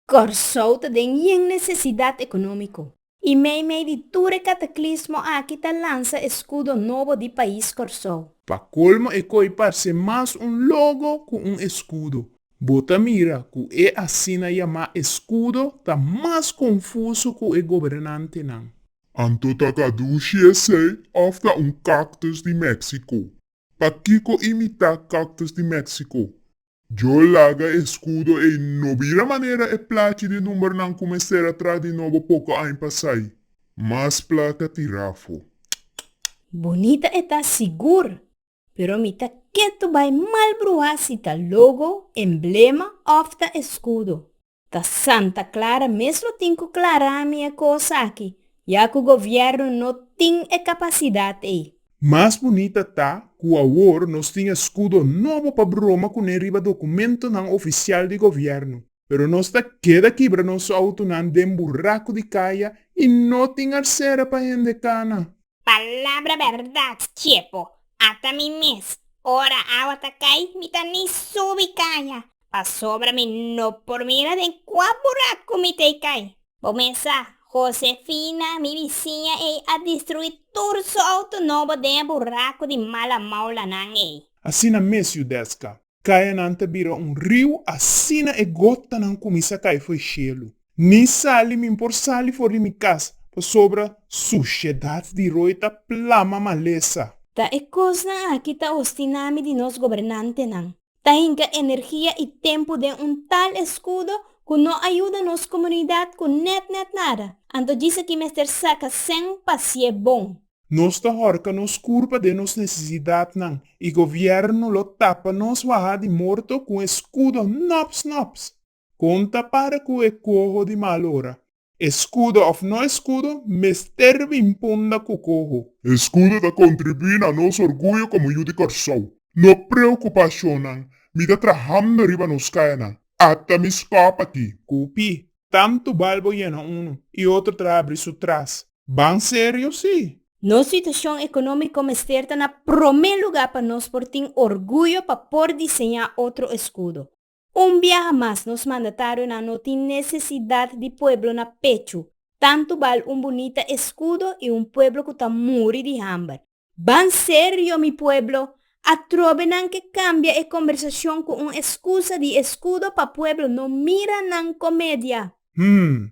Kòrsou ta den yen nesesidat ekonómiko i meimei di tur e kataklismo aki ta lansa e skudo nobo di Pais Kòrsou. Pa kolmo e koi parse mas un logo ku un eskudo. Bo ta mira ku e asina yamá eskudo ta mas konfuso ku e gobernantenan. Anto ta kadushi esei òf ta un cactus di Mexico? Pakiko imitá cactus di Mexico? Djo laga e escudo ei no bira manera e plachi di numbernan cu mester a traha di nobo poco aña pasai. Mas placa tirá afó. Bunita e ta sigur, pero mi ta ketu bai mal bruhá si ta logo, emblema òf ta escudo. Ta Santa Clara mes lo tin cu clara mi e cos aki, ya cu gobierno no tin e capacidad ey. Mas bunita ta cu awor nos tin escudo nobo pa broma cune riba documentonan oficial di gobierno, pero nos ta keda kibra nos autonan den buraco di caya y no tin arsera pa hende cana. Palabra berdad Chepo, ata mi mes, ora awa ta cay mi ta ni subi caya, Pasobra mi no por mira den kua burak ku mi t'ei kai. Bo mesa, Josefina, mi bisiña ei a destrui tur su outo nobo den e buraku di mala maulanan ei. Asina mes, Yudeska. Kayanan ta bira un riu asina e gotanan kuminsá kai fo'i shelu. Ni sali mi por sali for di mi kas, pasobra sushedat di roi ta plama malesa. Ta e kosnan aki ta ostiná mi di nos gobernantenan. Ta hinka energia i tempu den un tal eskudo ku no a yuda nos komunidat ku nèt nèt nada. Anto djis aki mester saka sèn pa sié bon. Nos ta hòrka nos kurpa den nos nesesidatnan i govièrnu lo tapa nos waha di morto ku un eskudo nòps nòps. Kon ta para ku e koho di malo ora? E skudo òf no e skudo mester bin punda ku koho. E skudo ta kontribuí na nos orguyo komo yu di Kòrsou. No preokupashonnan, mi ta trahando riba nos kayanan. Ata mi skòp aki. Kupi, tantu bal bo yena unu i otro tra abri su tras. Ban serio si! Nos situashon ekonómiko mester ta na promé lugá pa nos por tin orguyo pa por diseñá otro e skudo. Un biaha mas nos mandatarionan no tin nesesidat di pueblo na pechu, tantu bal un bunita eskudo i un pueblo ku ta muri di hamber. Ban serio mi pueblo, atrobe nan ke kambia e kombersashon ku un eskusa di eskudo pa pueblo no mira nan komedia. Hum,